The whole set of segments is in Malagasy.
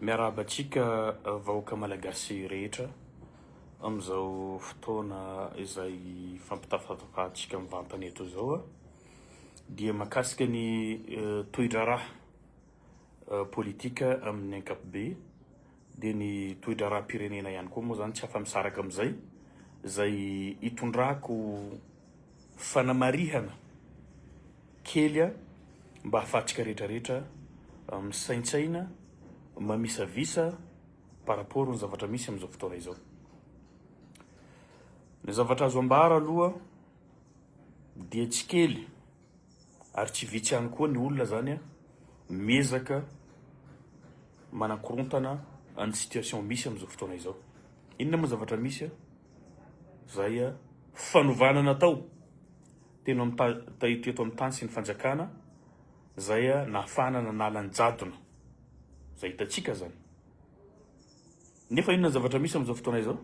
Miarahaba antsika vahoaka malagasy rehetra amin'izao fotoana izay fampitafatafahantsika mivantana eto izao a, dia mahakasika ny tohidraharaha politika amin'ny ankapobeny. dia ny toedraharaham-pirenena ihany koa moa izany tsy afa-misaraka amin'izay, izay itondrako fanamarihana kely mba hahafahantsika rehetrarehetra misaintsaina, mamisavisa par rapport ny zavatra misy amin'izao fotoana izao. Ny zavatra azo ambara aloha dia tsy kely Ary tsy vitsy ihany koa ny olona zany a miezaka manakorontana an'ny situation misy amin'izao fotoana izao. Inona moa zavatra misy a? Zay a fanovana natao teno amin'ny ta- ta- eto eto amin'ny tany sy ny fanjakana zay a nahafahana nanala ny jadona. Zay hitantsika zany. Nefa inona ny zavatra misy amin'izao fotoana izao?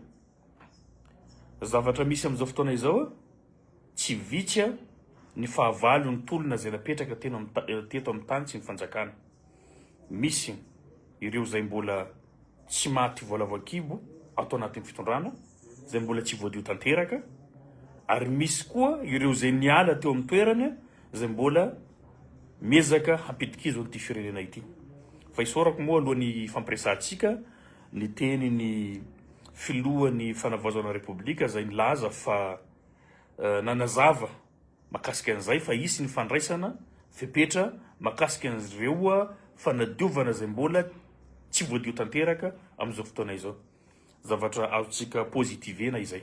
Zavatra misy amin'izao fotoana izao, tsy vitsy ny fahavalon'ny tolona izay napetraka teno amin'ny ta- eh, teto amin'ny tany sy ny fanjakana. Misy ireo izay mbola tsy maty voalavo an-kibo ato anatin'ny fitondrana, izay mbola tsy voadio tanteraka, ary misy koa ireo izay niala teo amin'ny toerany, izay mbola miezaka hampidi-kizo an'ity firenena ity. Fa isaorako moa alohan'ny fampiresahantsika Niteny ny filohan'ny Fanavaozana Repoblika izay nilaza fa nanazava makasika an'izay fa hisy ny fandraisana fepetra makasika an'ireo fanadiovana izay mbola tsy voadio tanteraka amin'izao fotoana izao. Zavatra azontsika positivena izay.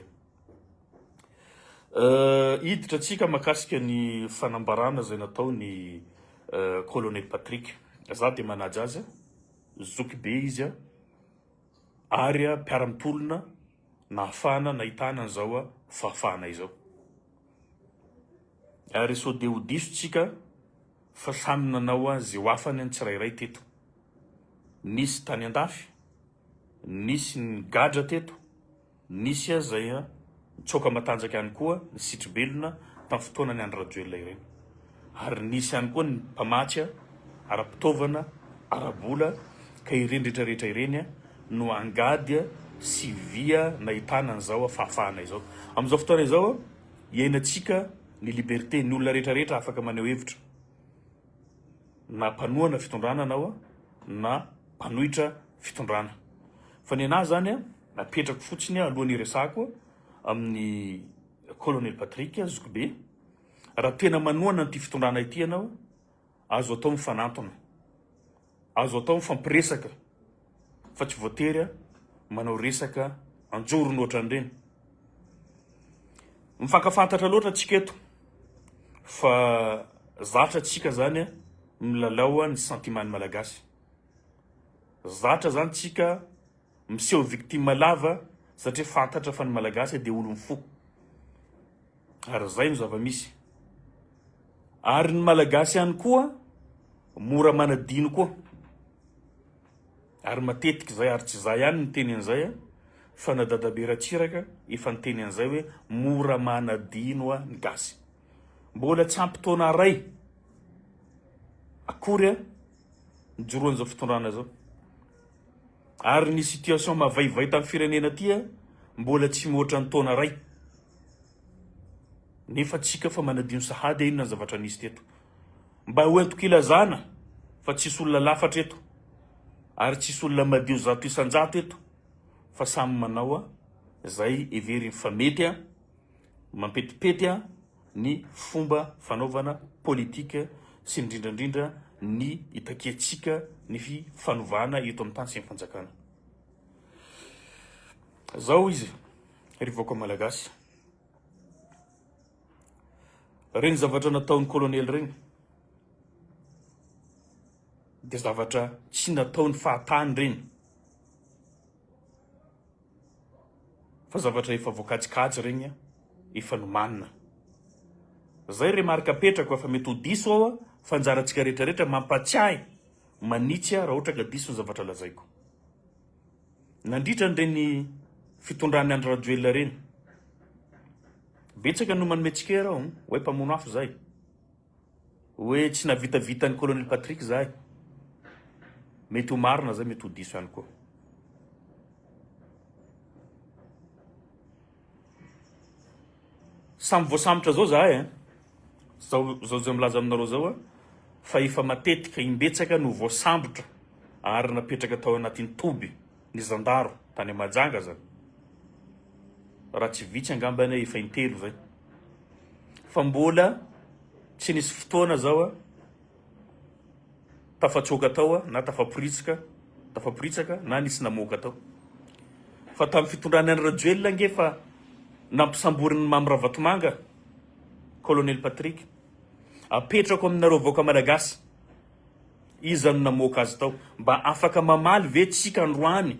Hiditra antsika makasika ny fanambarana izay nataon'ny Colonel Patrick. Za dia manaja azy. Zoky be izy ary mpiara-mitolona nahafahana nahitana an'izao fahafahana izao. Ary sao dia ho diso tsika fa samy nanao izay ho afany ny tsirairay teto. Nisy tany an-dafy, nisy nigadra teto. Nisy aza izay nitsoaka matanjaka ihany koa ny sitribelona tamin'ny fotoanan'i Andry Rajoelina ireny. Ary nisy ihany koa ny mpamatsy ara-pitaovana, ara-bola ka ireny rehetra rehetra ireny no angady sy vy nahitana an'izao fahafahana izao. Amin'izao fotoana izao iainantsika ny liberté, ny olona rehetra rehetra afaka maneho hevitra, na mpanohana fitondrana anao na mpanohitra fitondrana. Fa ny anah izany. Napetrako fotsiny aho aloha niresahako amin'ny Colonel Patrick zokibe, raha tena manohana an'ity fitondrana ity ianao, azo atao mifanantona, azo atao mifampiresaka fa tsy voatery manao resaka anjorony ohatran'ireny. Mifankafantatra loatra antsika eto fa zatra antsika zany milalao ny sentimen'ny Malagasy. Zatra zany tsika miseho victime lava satria fantatra fa ny Malagasy dia olon'ny fo. Ary izay no zava-misy. Ary ny Malagasy ihany koa mora manadino koa. Ary matetika izay ary tsy za ihany niteny an'izay a, fa na dadabe Ratsiraka efa niteny an'izay hoe mora manadino a ny gasy. Mbola tsy ampy taona iray akory a nijoroan'izao fitondrana izao. Ary ny situation mavaivay tam firenena aty a mbola tsy mihoatra ny taona ray nefa tsika fa manadino sahady a inona ny zavatra nisy teto mba ho entiko ilazana fa tsisy olona lafatra eto ary tsisy olona madio zato isanjato eto fa samy manao a zay heveriny fa mety a mampetipety a ny fomba fanaovana politika sy indrindra indrindra ny itakiantsika ny fifanovana eto amin'ny tany sy ny fanjakana. Zao izy, ry vahoaka malagasy. Reny zavatra nataon'ny kolonely reny dia zavatra tsy nataon'ny fahatany reny. fa zavatra efa voakajikajy regny efa nomanina zay remarque apetrako afa mety ho diso aho fa anjarantsika rehetra rehetra mampatsiahy manitsy aho raha ohatra ka diso ny zavatra lazaiko nandritra an'ireny fitondran'ny Andry Rajoelina ireny betsaka no manome tsikera aho hoe mpamono afo zay Hoe tsy navitavitan'ny Colonel Patrick zahay. Mety ho marina zay, mety ho diso ihany koa. Samy voasambotra zao zahay eh. Zao zao zay milaza aminareo zao ah, fa efa matetika imbetsaka no voasambotra ary napetraka tao anatin'ny toby. Ny zandaro tany Mahajanga zany raha tsy vitsy angamba anie efa intelo zay fa mbola tsy nisy fotoana zao a tafatsoaka tao a na tafaporitsika tafaporitsaka na nisy namoaka tao fa tamin'ny fitondrany any Rajoelina ange fa nampisamborin'ny Mamy Ravatomanga Colonel Patrick apetrako aminareo vahoaka malagasy Iza no namoaka azy tao? Mba afaka mamaly ve tsika androany?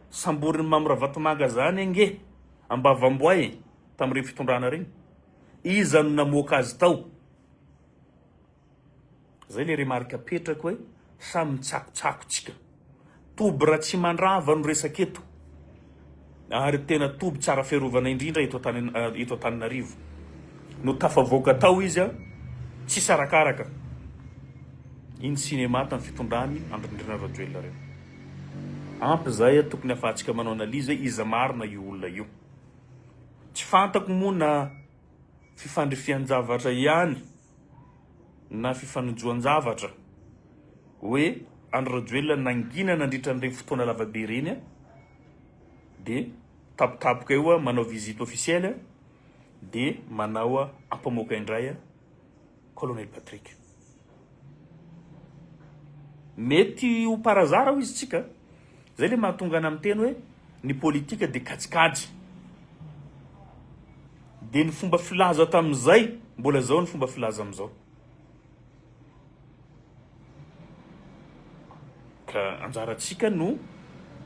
Samborin'i Mamy Ravatomanga zany ange ambavamboay tamin'ireny fitondrana ireny? Iza no namoaka azy tao? Zay le remarque apetrako hoe samy mitsakotsako tsika. Toby Ratsimandrava no resaka eto ary tena toby tsara fiarovana indrindra eto eto Antananarivo no tafavoaka tao izy a tsisy arakaraka iny cinéma tamin'ny fitondrany Andry Nirina Rajoelina reo ampy zay a tokony afahantsika manao analyse iza marina io olona io tsy fantako moa na fifandrifian-javatra ihany na fifanojoan-javatra hoe Andry Rajoelina nangina nandritra an'ireny fotoana lava be ireny dia tampotampoka eo manao visite officielle dia manao ampamoaka indray Colonel Patrick. Mety ho par hasard hoy izy tsika Zay le mahatonga ana miteny hoe ny politika de kajikajy. De ny fomba filaza tamin'izay mbola zao ny fomba filaza amizao. Ka anjarantsika no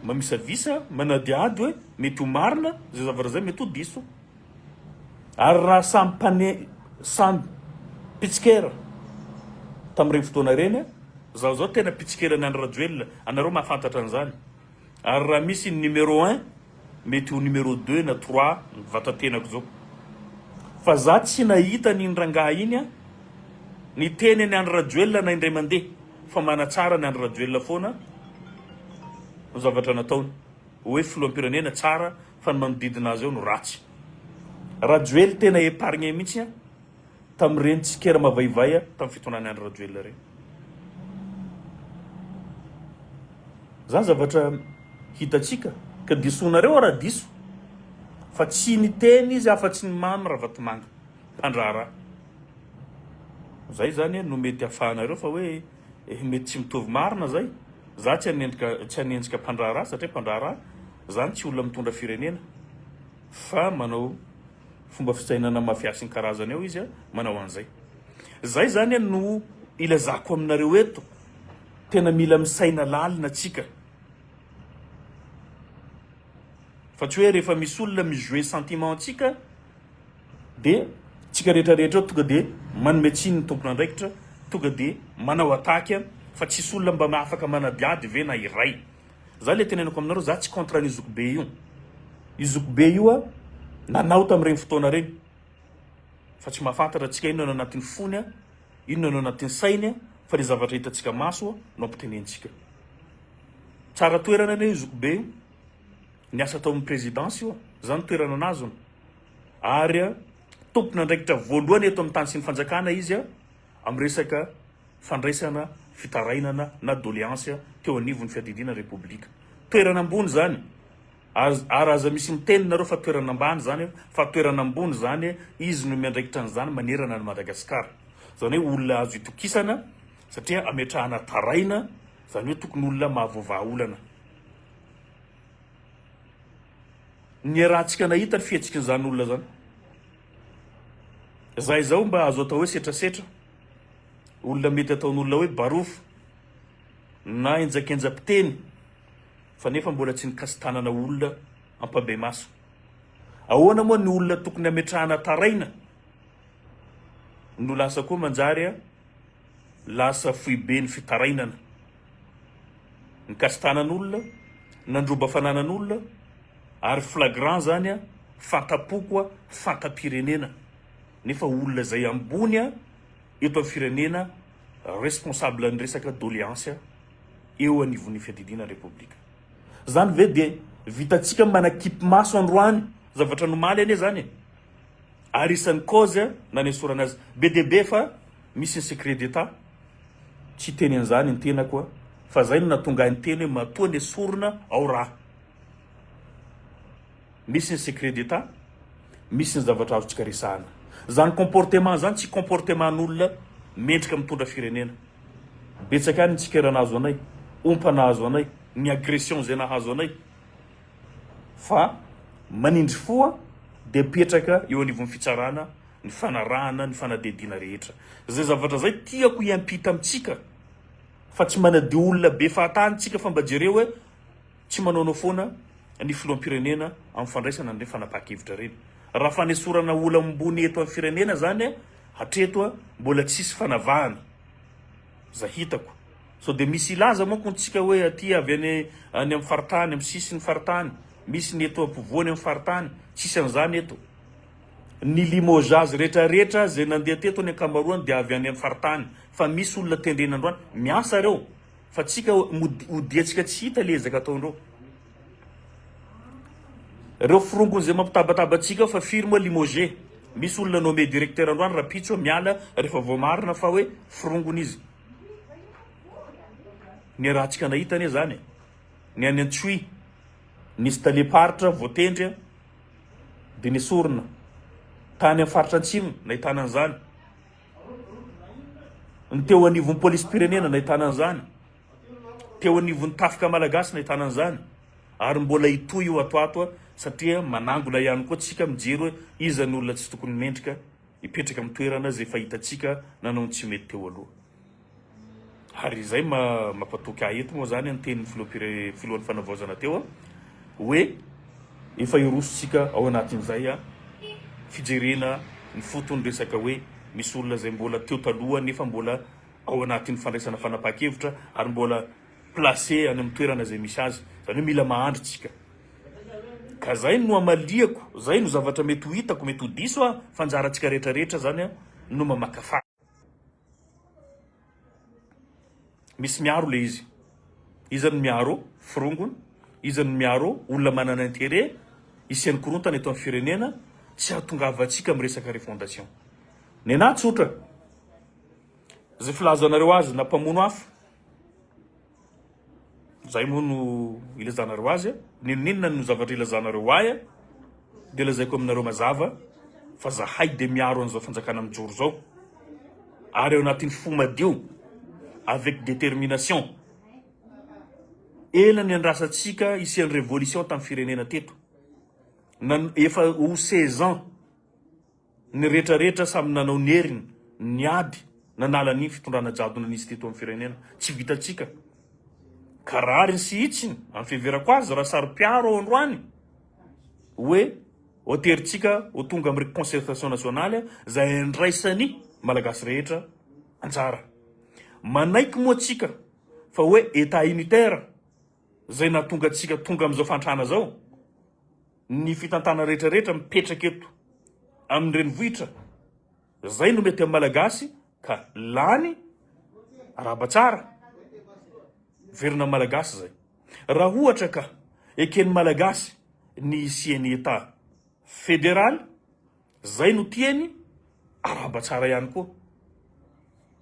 mamisavisa, manadihady hoe mety ho marina zay zavatra zay, mety ho diso. Ary raha samy mpane, samy mpitsikera tamin'ireny fotoana ireny, izaho izao tena mpitsikeran'i Andry Rajoelina, anareo mahafantatra an'izany, ary raha misy ny numéro un, mety ho numéro deux na trois ny vatatenako izao. Fa izaho tsy nahita an'iny rangahy iny an, niteny an'i Andry Rajoelina na indray mandeha, fa manatsara an'i Andry Rajoelina foana ny zavatra nataony. Oe filohampirenena tsara fa ny manodidina azy eo no ratsy. Rajoely tena epargne mitsy an tamireny tsikera mavaivay an tam fitondrany Andry Rajoelina reny. Zany zavatra hitatsika ka disonareo ra diso fa tsy niteny izy afa tsy ny mamy Ravatomanga mpandraharaha. Zay zany no mety afahanareo fa oe Eh mety tsy mitovy marina zay. Za tsy hanenjika tsy hanenjika mpandraharaha satria mpandraharaha zany tsy olona mitondra firenena fa manao fomba fisainana mafia sy ny karazany eo izy manao an'izay. Zay zany no ilazako aminareo eto tena mila misaina lalina tsika fa tsy hoe rehefa misy olona mi jouer sentiment antsika dia tsika rehetra rehetra eo tonga dia manome tsiny ny tompon'andraikitra tonga dia manao attaque a fa tsisy olona mba afaka manadihady ve na iray za le tenenako aminareo za tsy contre an'io zokibe io io zokibe io a nanao tamin'ireny fotoana ireny fa tsy mahafantatra antsika inona no anatin'ny fony a inona no anatin'ny sainy a fa le zavatra hitantsika maso a no ampitenentsika tsara toerana anie io zokibe io Ny asa ataon'ny Présidence io, izany toerana anazony. Ary tompon'andraikitra voalohany eto amin'ny tany sy ny fanjakana izy amin'ny resaka fandraisana fitarainana na doléance teo anivon'ny fiadidiana République. Toerana ambony izany. Az- Ary aza misy miteny nareo fa toerana ambany izany fa toerana ambony izany, izy no miandraikitra an'izany manerana an'i Madagasikara. Izany hoe olona azo itokisana satria ametrahana taraina, izany hoe tokony olona mahavoavaha olana. Niarahantsika nahita ny fihetsikin'izany olona izany. Izay izao mba azo atao hoe setrasetra, olona mety ataon'olona hoe barofo na henjakenjam-piteny fa nefa mbola tsy nikasi-tanana olona ampandrimaso. Ahoana moa ny olona tokony hametrahana taraina no lasa koa manjary lasa foiben'ny fitarainana. Nikasy tanan'olona, nandroba fananan'olona ary flagrant zany a, fantapoko a, fantam-pirenena nefa olona zay ambony a eto amin'ny firenena responsable ny resaka doleance a eo anivon'ny fiadidiana ny repoblika. Zany ve dia vitantsika manakipy maso androany zavatra nomaly anie zany e! Ary isan'ny cause nanesorana azy be dia be fa Misy ny secret d'Etat, tsy hiteny an'izany ny tenako a! Fa zay no nahatonga ahy niteny hoe matoa nesorina ao raha. Misy ny secret d'Etat, misy ny zavatra azontsika resahana. Zany comportement zany tsy comportement n'olona mendrika mitondra firenena. Betsaka ihany ny tsikera nahazo anay, ompa nahazo anay, ny agression izay nahazo anay. Fa manindry fo a! Dia apetraka eo anivon'ny fitsarana. ny fanarahana ny fanadihadiana rehetra. Izay zavatra izay tiako hiampita amintsika fa tsy manadio olona be fahatany tsika fa mba jereo hoe tsy manaonao foana ny filoham-pirenena amin'ny fandraisana an'ireny fanapahan-kevitra ireny. Raha fanesorana olam-bony eto amin'ny firenena izany hatreto mbola tsisy fanavahana izay hitako. Sao dia misy hilaza manko ny tsika hoe aty avy any any amin'ny faritany, amin'ny sisiny faritany, misy ny eto ampovoany amin'ny faritany, tsisy an'izany eto. Ny Limoges rehetra rehetra izay nandeha teto ny ankamaroany dia avy any amin'ny faritany fa misy olona tendrena androany miasa ireo fa tsika mody odiantsika tsy hita le ezaka ataondreo reo firongony zay mampitabataba antsika fa firy moa Limoges misy olona nommé directeur androany rapitso miala rehefa voamarina fa hoe firongony izy ny rahantsika nahita anie zany ny any Antsohihy nisy talem-paritra voatendry dia nesorina tany amin'ny faritra Atsimo nahitana an'izany, ny teo anivon'ny polisim-pirenena nahitana an'izany, teo anivon'ny tafika malagasy nahitana an'izany ary mbola hitohy io ato ato satria manangona ihany koa tsika mijery hoe iza ny olona tsy tokony mendrika hipetraka amin'ny toerana izay fahitantsika nanao ny tsy mety teo aloha. Ary izay mampatoky ahy eto moa izany ny tenin'ny filoham-pirenena, filohan'ny Fanavaozana teo hoe efa hirosontsika ao anatin'izay fijerena ny foton'ny resaka hoe misy olona izay mbola teo taloha nefa mbola ao anatin'ny fandraisana fanapahan-kevitra ary mbola placé any amin'ny toerana izay misy azy, izany hoe mila mahandry isika. Ka izay no amaliako, izay no zavatra mety ho hitako, mety ho diso aho fa anjarantsika rehetra rehetra izany no mamakafaka. Misy miaro le izy. Iza no miaro? Forongony. Iza no miaro? Olona manana intérêt hisian'ny korontana eto amin'ny firenena. Tsy hahatongavantsika amin'ny resaka refondation. Nenà tsotra. Izay filazanareo azy na mpamono afo. Zay moa no ilazanareo azy a! N'inon'inona no zavatra ilazanareo ahy a! Dia lazaiko aminareo mazava fa zahay dia miaro an'izao fanjakana mijoro izao ary ao anatin'ny fo madio avec détermination. Ela niandrasantsika hisian'ny révolution tamin'ny firenena teto. Nan- efa ho seize ans. Ny rehetra rehetra samy nanao ny heriny, niady nanala ny fitondrana jadona nisy teto amin'ny firenena. Tsy vitantsika ka rariny sy hitsiny amin'ny fiheverako azy raha saro-piaro ao androany hoe hoaterintsika ho tonga amin'ny concertation nationale izay andraisan'ny Malagasy rehetra anjara. Manaiky moa tsika fa hoe Etat unitaire izay nahatonga antsika tonga amin'izao fahantrana izao. ny fitantana rehetra rehetra mipetraka eto amin'ny renivohitra zay no mety amin'ny malagasy ka lany araba tsara verina amin'ny malagasy zay raha ohatra ka eken'ny malagasy ny hisian'ny état fédéral Zay no tiany, arahaba tsara ihany koa.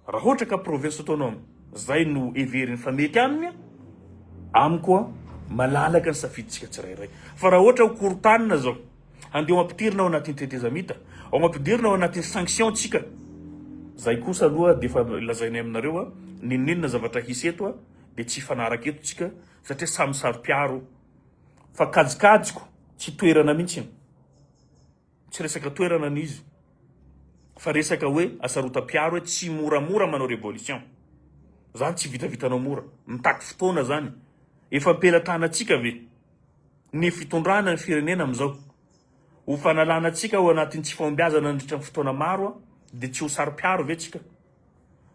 Raha ohatra ka province autonome zay no heveriny fa mety aminy, amiko malalaka ny safidintsika tsirairay. Fa raha ohatra ho korotanina zao, handeha ho ampidirina ao anatin'ny tetezamita, ao ampidirina ao anatin'ny sanction tsika, zay kosa aloha dia efa lazainay aminareo a, n'inon'inona zavatra hisy eto a, dia tsy hifanaraka eto tsika satria samy saro-piaro. Fa kajikajiko, tsy toerana mihitsy. Tsy resaka toerana ny izy fa resaka hoe asarotam-piaro hoe tsy moramora manao révolution. Zany tsy vitavitanao mora. Mitaky fotoana zany. Efa am-pelatanantsika ve ny fitondrana ny firenena amin'izao? Ho fanalana antsika ao anatin'ny tsy fahombiazana nandritra ny fotoana maro dia tsy ho saro-piaro ve tsika?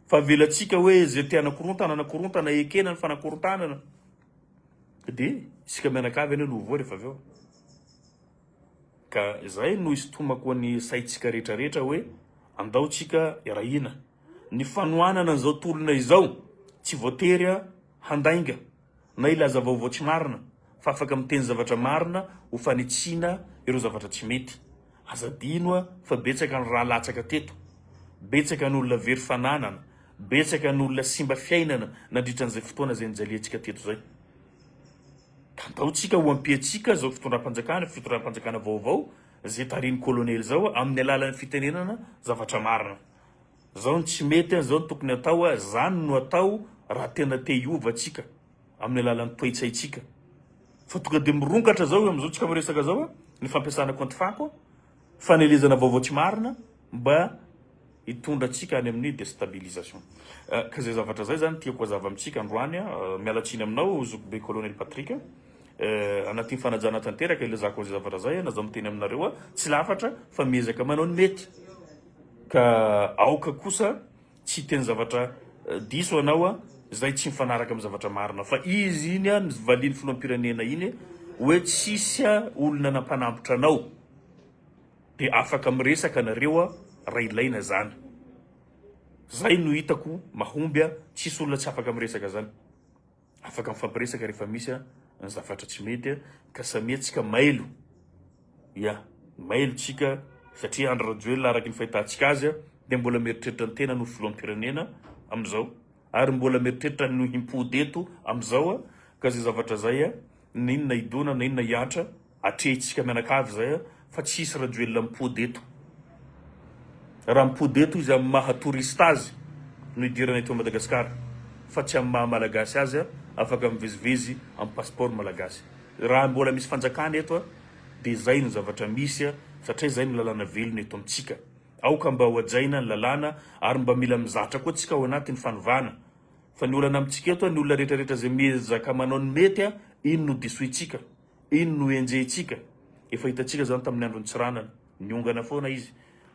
Fa avelantsika hoe izay te hanakorontana anakorontana ekena ny fanakorontanana dia isika mianakavy anie no ho voa rehefa avy eo. Ka izay no isintomako ny saintsika rehetra rehetra hoe andao tsika iarahina. Ny fanohanana an'izao tolona izao tsy voatery handainga na hilaza vaovao tsy marina fa afaka miteny zavatra marina ho fanitsiana ireo zavatra tsy mety. Aza adino fa betsaka ny rà latsaka teto, betsaka ny olona very fananana, betsaka ny olona simba fiainana nandritra an'izay fotoana izay nijaliantsika teto izay. Tantaontsika ho ampiantsika izao fitondram-panjakana, fitondram-panjakana vaovao izay tarihin'ny Kolonely izao amin'ny alalan'ny fitenenana zavatra marina. Izao no tsy mety an, izao no tokony hatao an, izany no atao raha tena te hiova tsika amin'ny alalan'ny toetsaintsika. Fa tonga dia mirongatra izao amin'izao tsika miresaka izao an, ny fampiasana compte fako an. Fanelezana vaovao tsy marina mba hitondra antsika any amin'ny destabilisation. Ka zay zavatra zay zany tiako hazava amintsika androany. Miala tsiny aminao zokibe Colonel Patrick. Anatin'ny fanajana tanteraka ilazako an'izay zavatra zay na zao miteny aminareo tsy lafatra fa miezaka manao ny mety ka aoka kosa Tsy hiteny zavatra diso ianao a! Izay tsy mifanaraka amin'ny zavatra marina. Fa izy iny a, ny valian'ny filoham-pirenena iny hoe tsisy a olona nampanambotra anao. Dia afaka miresaka nareo a raha ilaina izany. Izay no hitako mahomby a, tsisy olona tsy afaka miresaka izany. afaka mifampiresaka rehefa misy a ny zavatra tsy mety a ka samia tsika mailo ya mailo tsika satria andro rajoelina araky ny fahitatsika azy a dia mbola mieritreritra ny tena no filohampirenena amin'izao ary mbola mieritreritra no himpody eto amin'izao a ka zay zavatra zay a na inona hidona na inona hiantra Atrehintsika mianakavy izay fa tsy hisy Rajoelina mipody eto. Raha mipody eto izy amin'ny maha touriste azy no hidirana eto Madagascar fa tsy amin'ny maha Malagasy azy afaka mivezivezy amin'ny passeport Malagasy. Raha mbola misy fanjakana eto dia izay no zavatra misy satria izay no lalàna velona eto amintsika. Aoka mba ho hajaina ny lalàna ary mba mila mizatra koa tsika ao anatin'ny fanovana fa ny olana amintsika eto ny olona rehetra rehetra izay miezaka manao ny mety iny no disointsika. Iny no enjehintsika, efa hitantsika izany tamin'ny andron'i Tsiranana, niongana foana izy,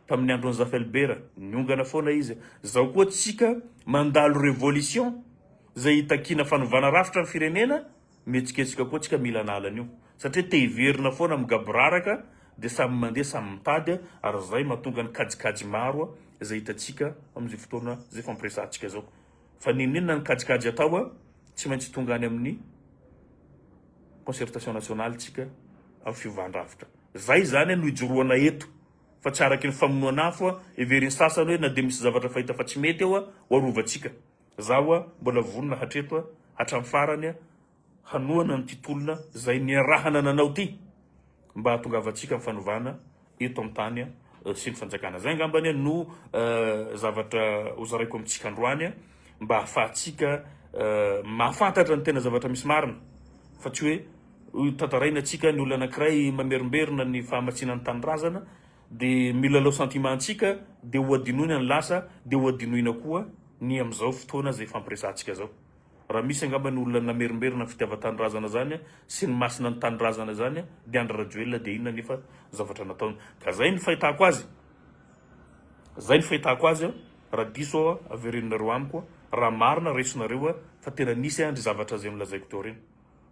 tamin'ny andron'i Zafelibera, niongana foana izy, izao koa tsika mandalo révolution izay hitakiana fanovana rafitra ny firenena, mihetsiketsika koa tsika mila an'ala an'io, satria te hiverina foana migaboraraka dia samy mandeha samy mitady ary izay mahatonga ny kajikajy maro izay hitantsika amin'izao fotoana izay fampiresahantsika izao. Fa n'inon'inona ny kajikajy atao a, tsy maintsy tonga any amin'ny concertation nationale tsika amin'ny fiovan-drafitra. Zay izany no ijoroana eto fa tsy araky ny famonoana afo a, heverin'ny sasany hoe na dia misy zavatra fahita fa tsy mety eo a, ho arovantsika. Zaho a, mbola vonona hatreto a, hatramin'ny farany a, hanohana an'ity tolona izay niarahana nanao ity mba hahatongavantsika ny fanovana eto an-tany sy ny fanjakana. Izay angamba no zavatra hozaraiko amintsika androany mba hahafahantsika mahafantatra ny tena zavatra misy marina fa tsy hoe tantaraina antsika ny olona anankiray mamerimberina ny fahamatsiana ny tanindrazana dia milalao sentiment antsika dia hohadinoina ny lasa dia hohadinoina koa ny amin'izao fotoana izay fampiresahantsika izao. Raha misy angamba ny olona namerimberina ny fitiavan-tanindrazana zany sy ny masina ny tanindrazana zany dia Andry Rajoelina dia inona nefa zavatra nataony ka zay ny fahitako azy zay ny fahitako azy a raha diso aho a averenonareo amiko a raha marina resinareo a fa tena nisy andry zavatra zay nolazaiko teo reny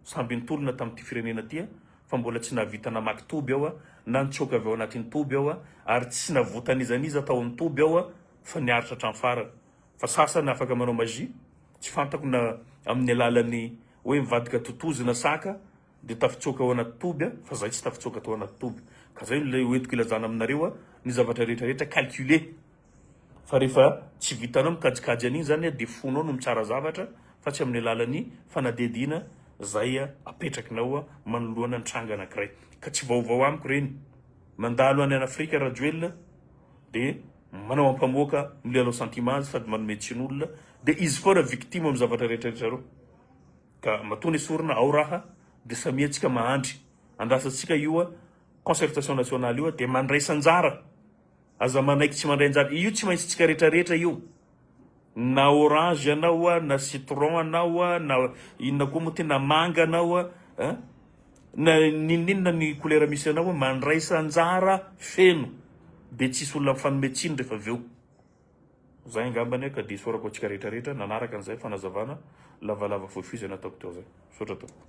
samby nitolona tamin'ity firenena ty a fa mbola tsy nahavita namaky toby aho a na nitsoaka avy ao anatin'ny toby aho a ary tsy navotan'izan'iza tao amin'ny toby aho a fa niaritra hatramin'ny farany Fa sasany afaka manao magie, tsy fantako na amin'ny alalan'ny hoe mivadika totozy na saka dia tafitsoaka ao anaty toby a, fa zahay tsy tafitsoaka tao anaty toby. Ka zay no hoentiko ilazana aminareo a, ny zavatra rehetra rehetra calculé. Fa rehefa tsy vitanao mikajikajy an'iny zany a, dia fonao no mitsara zavatra fa tsy amin'ny alalan'ny fanadihadiana zay apetrakinao a, manoloana ny tranga anakiray. Ka tsy vaovao amiko reny. Mandalo any an'Afrika Rajoelina dia. Manao ampamoaka, milalao sentiment azy sady manome tsiny olona dia izy foana victime amin'ny zavatra rehetra ry zareo. Ka matoa nesorina ao raha dia samia antsika mahandry. Andrasantsika ioa concertation nationale ioa dia mandraisa anjara. Aza manaiky tsy mandray anjara. Io tsy maintsy tsika retraretra io. Na orange anao a, na citron anao a, na inona koa moa ty, na manga anao a, eh, na n'inon'inona ny kolera misy anao a, mandraisa anjara feno dia tsisy olona mifanome tsiny rehefa avy eo. Zay angambany ka dia isaorako antsika rehetrarehetra nanaraka an'izay fanazavana lavalava fohifohy izay nataoko teo zay. Misaotra tompoko.